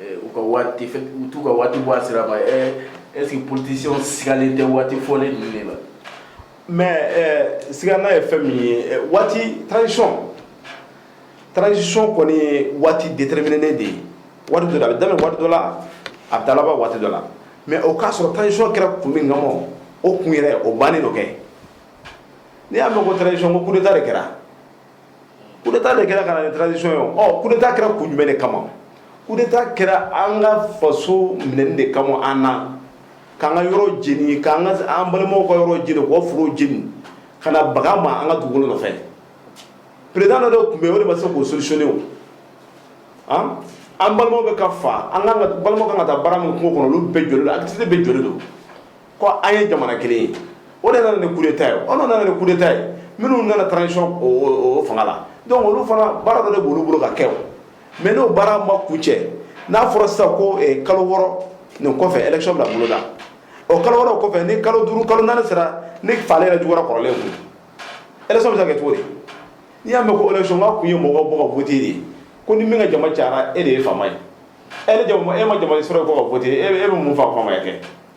u ka waati u t'u ka waati bɔ a sira ma ɛ est ce que politicien sigalen tɛ waati fɔlen ninnu de la mais ɛ sigana ye fɛn min ye waati transition transition kɔni ye waati déterminé de ye waati dɔ la a bɛ daminɛ waati dɔ la a bɛ taa laban waati dɔ la mais o k'a sɔrɔ transition kɛra kun min kama o kun yɛrɛ o bannen don kɛ n'i y'a mɛn ko transition ko coup d'état de kɛra coup d'Etat de kɛra ka na ni transition ye o, coup d'Etat kɛra kun jumɛn de kama? coup d'Etat kɛra an ka faso minɛni de kama an na, k'an ka yɔrɔ jeni, k'an ka an balimaw ka yɔrɔ jeni, k'o forow jeni, ka na baga an ma an ka dugukolo nɔfɛ, président dɔ de tun bɛ yen o de ma se k'o solutionner o, an an balimaw bɛ ka fa, an ka kan ka, balimaw ka kan ka taa baara min kɛ kungo kɔnɔ olu bɛɛ jɔlen don, activités bɛɛ jɔlen don. ko an ye jamana kelen ye o de nana ni coup d'Etat ye o de nana ni coup d'Etat ye minnu nana transition o fanga la donc olu fana baara dɔ de b'olu bolo ka kɛ o mais n'o baara ma kuncɛ n'a fɔra sisan ko eh, kalo wɔɔrɔ nin kɔfɛ élection bɛna boloda o kalo wɔɔrɔ kɔfɛ ni kalo duuru kalo naani sera ni faali yɛrɛ juguyara kɔrɔlen kun élection bɛ se ka kɛ cogo di n'i y'a mɛn ko élection k'a kun ye mɔgɔw bɔ ka voter de ye ko ni min ka jama cayara e de ye faama ye e ni jama e ma jama sɔrɔ ko ka voter e bɛ mun fa faamaya kɛ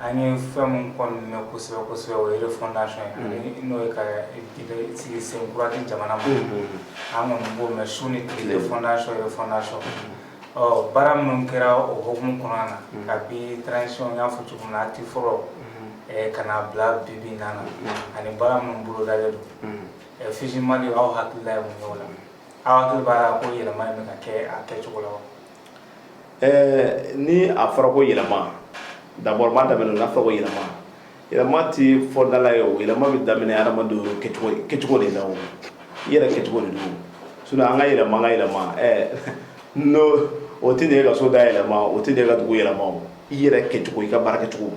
An ye fɛn min kɔni mɛn kosɛbɛ kosɛbɛ o ye refondation ye ani n'o ye ka sigi sen kura di jamana ma an kɔni b'o mɛn su ni tile refondation refondation ɔ baara minnu kɛra o hukumu kɔnɔna na kabi transition n y'a fɔ cogo min na acte fɔlɔ ka na bila bi bi in na ani baara minnu bolodalen don physiquement aw hakilila ye mun ye o la aw hakili b'a la ko yɛlɛma in bɛ ka kɛ a kɛcogo la wa? ɛɛ ni a fɔra ko yɛlɛma d'abord n b'a daminɛ n'a fɔra ko yɛlɛma yɛlɛma tɛ fɔ da la ye o yɛlɛma bɛ daminɛ hadamadenw kɛcogo kɛcogo de la o i yɛrɛ kɛcogo de don sinon an ka yɛlɛma an ka yɛlɛma ɛɛ non o tɛ n'e ka so da yɛlɛma o tɛ n'e ka dugu yɛlɛma o i yɛrɛ kɛcogo i ka baara kɛcogo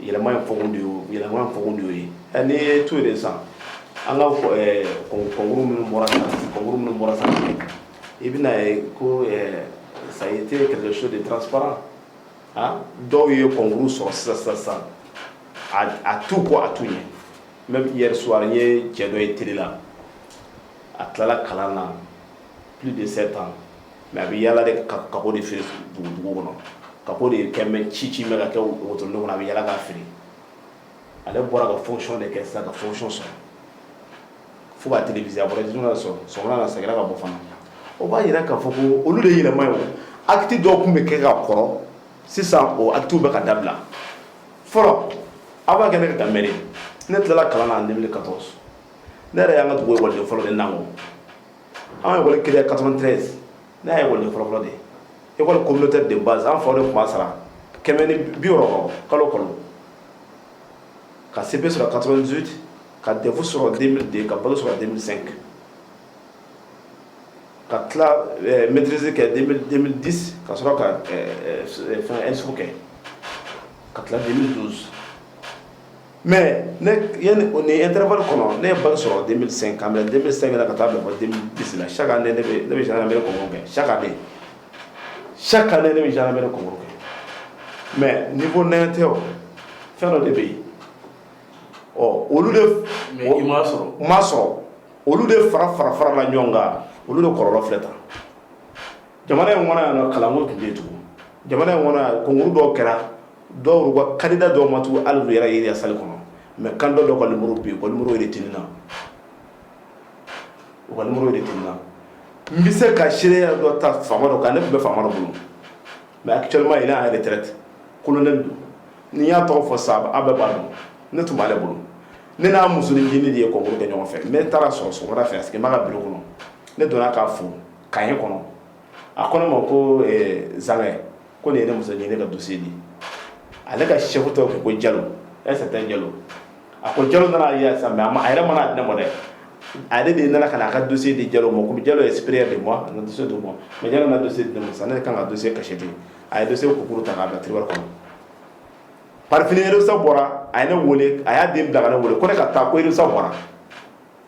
yɛlɛma in fɔkun de y'o ye yɛlɛma in fɔkun de y'o ye ɛ n'i ye to de san an k'a fɔ ɛɛ concours minnu bɔra san concours minnu bɔra san i bɛn'a ye ko ɛɛ ça a été quelque chose de transparent ah dɔw ye concours sɔrɔ sisan sisan sisan a a t'u kɔ a t'u ɲɛ même hier soir n ye cɛ dɔ ye télé la a tilala kalan na plus de sept ans mais a bɛ yaala de ka kako de feere dugu dugu kɔnɔ kako de ye kɛmɛ ci ci bɛ k'a kɛ wotoro kɔnɔ a bɛ yaala k'a feere ale bɔra ka fonction de kɛ sisan ka fonction sɔrɔ fo k'a téléviser a bɔra surɔ sɔgɔmada a seginna ka bɔ fana o b'a jira k'a fɔ ko olu de ye yɛlɛma ye acte dɔw tun bɛ kɛ ka kɔrɔ sisan o actes bɛ ka dabila fɔlɔ aw b'a kɛ ne ka da ne tilala kalan na en deux mille quatorze ne yɛrɛ y'an ka dugu wale fɔlɔ de na an ye ekɔli créé 93 ne y'a ekɔliden fɔlɔfɔlɔ de ye ekɔli communautaire de base an faw de tun b'a sara kɛmɛ ni bi wɔɔrɔ kalo kalo ka CEP sɔrɔ 98 ka DEF sɔrɔ 2002 ka bac sɔrɔ 2005 ka tila eh, maîtrise kɛ 2010 ka sɔrɔ ka eh, eh, fɛn ENSUP kɛ ka tila 2012 Mɛ ne tarawele kɔnɔ ne ye ba sɔrɔ den sen ka den bɛ sen ka taa bisimila sa ka ne bɛ kɛ sa ka bɛ sa ka ne bɛ kɛ mɛ ni ko n tɛ o fɛn dɔ de bɛ yen ɔ olu sɔrɔ sɔrɔ olu de fara fara fara la ɲɔgɔn kan olu de kɔrɔ filɛ ta jamana in kɔnɔ kalanku tun bɛ tugun jamana in kɔnɔ kungo dɔ kɛra dɔw kanda dɔw ma tugun ali yɛrɛ ye sali kɔnɔ mɛ kan dɔ ka muru bi walimuru de tun na walimuru de tun na n bɛ se ka seya dɔ ta fa dɔ kan ne tun bɛ fa dɔ bolo mɛ a cɛlima ye n'a yɛrɛ tɛ kolon don n'i y'a tɔgɔ fɔ sa aw bɛɛ b'a dɔn ne tun b'aale bolo ne n'a musosonin ɲinin de ye kɔkolo kɛ ɲɔgɔn fɛ ne taara sɔrɔ so fɛ a sigi b'a ka bi kɔnɔ ne donna k'a fo ka ye kɔnɔ a ko ne ma ko zan ko nin ye ne muso ɲini ka dusu di ale ka seko tɔgɔ ko ko jalo ɛsa tɛ jalo a ko jalo nana ye sa mɛ a ma a yɛrɛ mana dɛmɛ dɛ ale de nana ka na a ka dusu di jalo ma ko jalo ye sipere de ma na dusu di ma mɛ jalo na dusu di ma sa ne kan ka dusu kasi di a ye dusu kukuru ta k'a bila tiriwari kɔnɔ parfini sa bɔra a ye ne wele a y'a den bila ka ne wele ko ne ka taa ko sa bɔra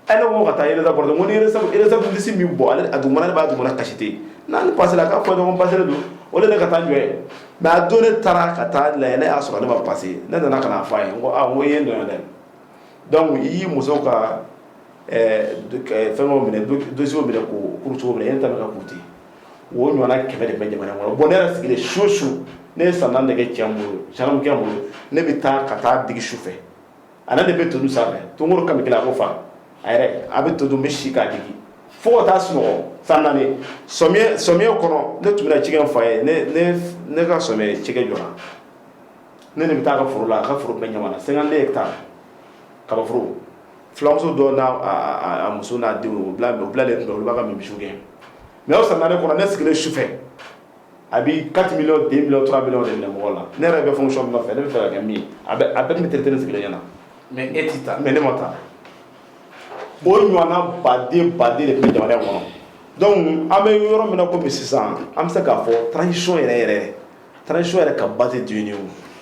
ale ko ka taa résultat bɔra ko ni résultat liste min bɔ ale a dugumana b'a dugumana kasisite ni n passéla k'a fɔ n ma passé don o de ne ka taa jɔn ye mais a don ne taara ka taa la ne y'a sɔrɔ ne ma passé ne nana ka na a fɔ a ye ko ko ye nɔ dɛ donc i y'i muso ka fɛn minɛ dossier minɛ ko kuruso minɛ e ta ka kute o ɲɔgɔnna kɛmɛ de bɛ jamana kɔnɔ bon ne yɛrɛ sigilen su su ne ye san naani de kɛ cɛ in bolo gendarmekɛ in bolo ne bɛ taa ka taa digi su fɛ a ni ne de bɛ to dun sanfɛ toon ka a ko fa a yɛrɛ a bɛ to dun n bɛ si k'a digi fo ka taa sunɔgɔ san naani samiya kɔnɔ ne tun bɛna cikɛ n fa ye ne ka samiya cikɛ jɔra ne de bɛ taa a ka foro la a ka foro bɛ Ɲamana 52 hectares kabaforo filamuso dɔ n'a muso n'a denw u bilalen tun bɛ olu b'a ka misiw gɛn mais o san naani kɔnɔ ne sigilen su fɛ a bɛ 4 millions 2 millions 3 millions de minɛ mɔgɔ la ne yɛrɛ bɛ fonction min nɔfɛ ne bɛ fɛ ka kɛ min ye a bɛɛ tun bɛ traité ne sigilen ɲɛna mais e tɛ taa mais ne ma taa o ɲɔgɔnna baden baden de tun bɛ jamana in kɔnɔ donc an bɛ yɔrɔ min na komi sisan an bɛ se k'a fɔ transition yɛrɛ yɛrɛ transition yɛrɛ ka ba tɛ dun ye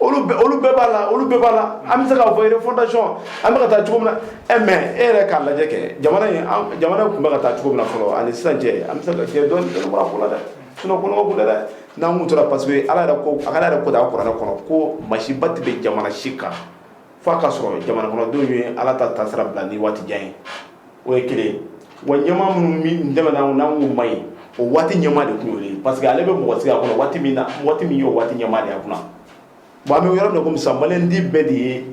olu bɛɛ b'a la la an bɛ se k'a fɔ refondation an bɛ ka taa cogo min na e mais e yɛrɛ k'a lajɛ kɛ jamana tun bɛ ka taa cogo min na fɔlɔ ani sisan cɛ an bɛ se ka cɛ dɔn ko la dɛ sinon kɔnɔko dɛ n'an tora parce que ala yɛrɛ ko ala yɛrɛ ko kuranɛ kɔnɔ ko masiba tɛ bin jamana si kan fo a k'a sɔrɔ jamana kɔnɔdenw ye ala ta taasira bila ni waati jan ye o ye kelen wa ɲɛmaa minnu tɛmɛna u man ɲi o waati ɲɛmaa de tun ye parce que ale bɛ mɔgɔ sigi a kɔnɔ waati min na waati min y'o waati ɲɛmaa de y'a kunna bon an bɛ yɔrɔ min na sisan maliden bɛɛ de ye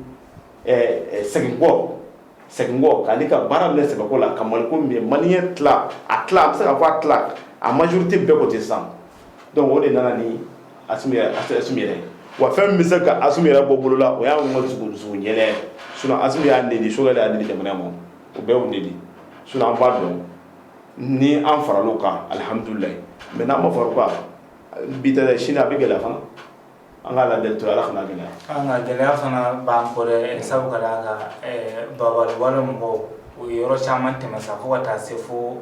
segin kɔ segin kɔ k'ale ka baara minɛ sɛbɛko la ka mali mali a an bɛ se k'a fɔ a tila a majorité bɛɛ ko ten sisan donc o de nana ni Assimi yɛrɛ wa fɛn min bɛ se ka a yɛrɛ bɔ bolo la o y'a ma dugu ɲɛ sinon a y'a nin Choguel y'a ni jamana ma o bɛɛ de sinon an b'a dɔn ni an farala u kan alihamdulilayi mais n'an ma fara u kan bi sini a bɛ gɛlɛya fana an ka la to ala kana gɛlɛya gɛlɛya fana b'an kɔ dɛ sabu ka baba mɔgɔw o ye yɔrɔ caman tɛmɛ sa fo ka taa se fo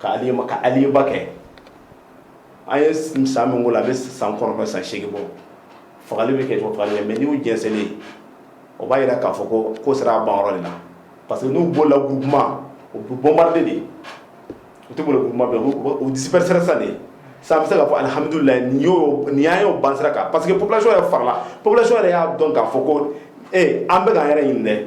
ka aliba kɛ an ye san min la a bɛ san kɔnɔntɔn san seegin bɔ fagali bɛ kɛ mais n'i y'u jɛnsɛnlen o b'a jira k'a fɔ ko ko sera a banyɔrɔ de la parce que n'u bɔla groupement u bɛ bombarder de u tɛ groupement u disperser sa de sisan an bɛ se k'a fɔ alihamidulilayi nin nin y'an ye o ban sira kan parce que population yɛrɛ farala population yɛrɛ y'a dɔn k'a fɔ ko ee an bɛ k'an yɛrɛ ɲini dɛ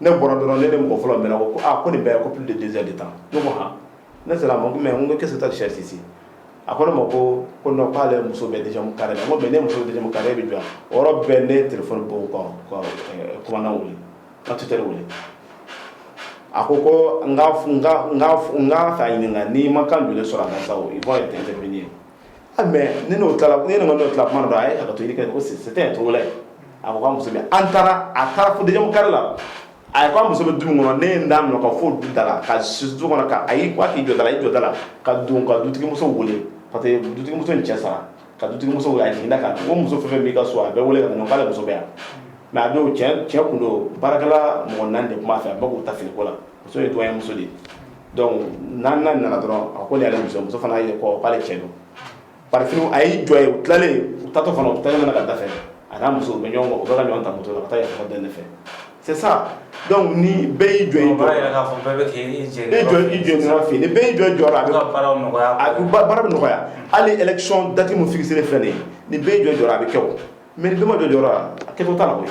ne bɔra dɔrɔn ne de mɔgɔ fɔlɔ mɛn ko ko nin bɛɛ ko p de dɛsɛ de tan ne ko h ne sera ma mɛ n ko kisa sɛsisi a ko ne ma ko ko k'ale muso bɛ dɛsɛmu kari la ko mɛ ne muso dɛsɛmu kari bɛ jɔ yɔrɔ bɛɛ ne tile kuran wuli ka tɛ wuli a ko ko n ka ɲininka n'i ma kan joli sɔrɔ a sa i' ye tɛ tɛ ye ah, mais ne n'o tilala ne n'o tilala kuma dɔ a ye hakɛto ɲini kɛ ko c'était un Togolais a ko k'a muso bɛ an taara a taara fo deuxième carré la a ye k'a muso bɛ du min kɔnɔ ne ye n da minɛ ka fo du da la ka se du kɔnɔ ka a y'i kɔ k'i jɔ da la a y'i jɔ da la ka don ka dutigimuso wele parce que dutigimuso in cɛ sara ka dutigimuso wele a jiginna ka ko muso fɛn fɛn b'i ka so a bɛɛ wele ka na k'ale muso bɛ yan mais a don cɛ cɛ kun don baarakɛla mɔgɔ naani de tun b'a fɛ a bɛɛ k'u ta finiko la muso ye Togolais muso de ye donc naaninan nana dɔrɔn a ko nin y'ale muso fana ye ko k'ale cɛ don paf a y'i jɔ yen u tilalen u taatɔ fana u tɛmɛna n ka da fɛ a n'a muso bɛ ɲɔgɔn u bɛ ka ɲɔgɔn ta moto la ka taa yafa deli ne fɛ c'est ça donc ni bɛɛ y'i jɔ i jɔ bɛɛ bɛ k'i i jɔ i jɔ i jɔ ɲɔgɔn fɛ ni bɛɛ y'i jɔ i jɔyɔrɔ a bɛ ka baaraw nɔgɔya a bɛ baara bɛ nɔgɔya hali élection date min fixée filɛ nin ye ni bɛɛ y'i jɔ i jɔyɔrɔ a bɛ kɛ o mais ni bɛɛ ma jɔ i jɔyɔrɔ la a kɛcogo t'a la koyi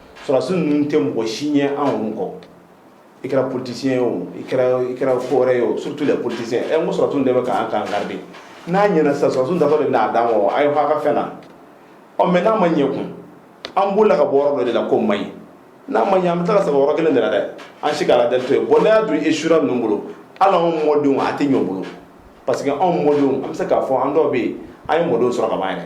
Sɔrɔdasi ninnu tɛ mɔgɔ si ɲɛ anw kɔ i kɛra politicien ye o i kɛra fɔ ye o surtout politiciens e ko sɔrɔdasiw de bɛ k'an garidi n'a ɲɛna sa sɔrɔdasi de n'a d'an ma a ye ha ka fɛn na ɔ mais n'a ma ɲɛ kun an bolila ka bɔ dɔ de la ko man ɲi n'a ma ɲɛ an bɛ taa saba yɔrɔ kelen de dɛ an si' la dɛ to yen bon n'a y'a dun échouera ninnu bolo hali anw mɔdenw a tɛ ɲɛ o bolo parce que anw mɔdenw an bɛ se k'a fɔ an dɔw bɛ yen an ye mɔdenw sɔrɔ ka' yɛrɛ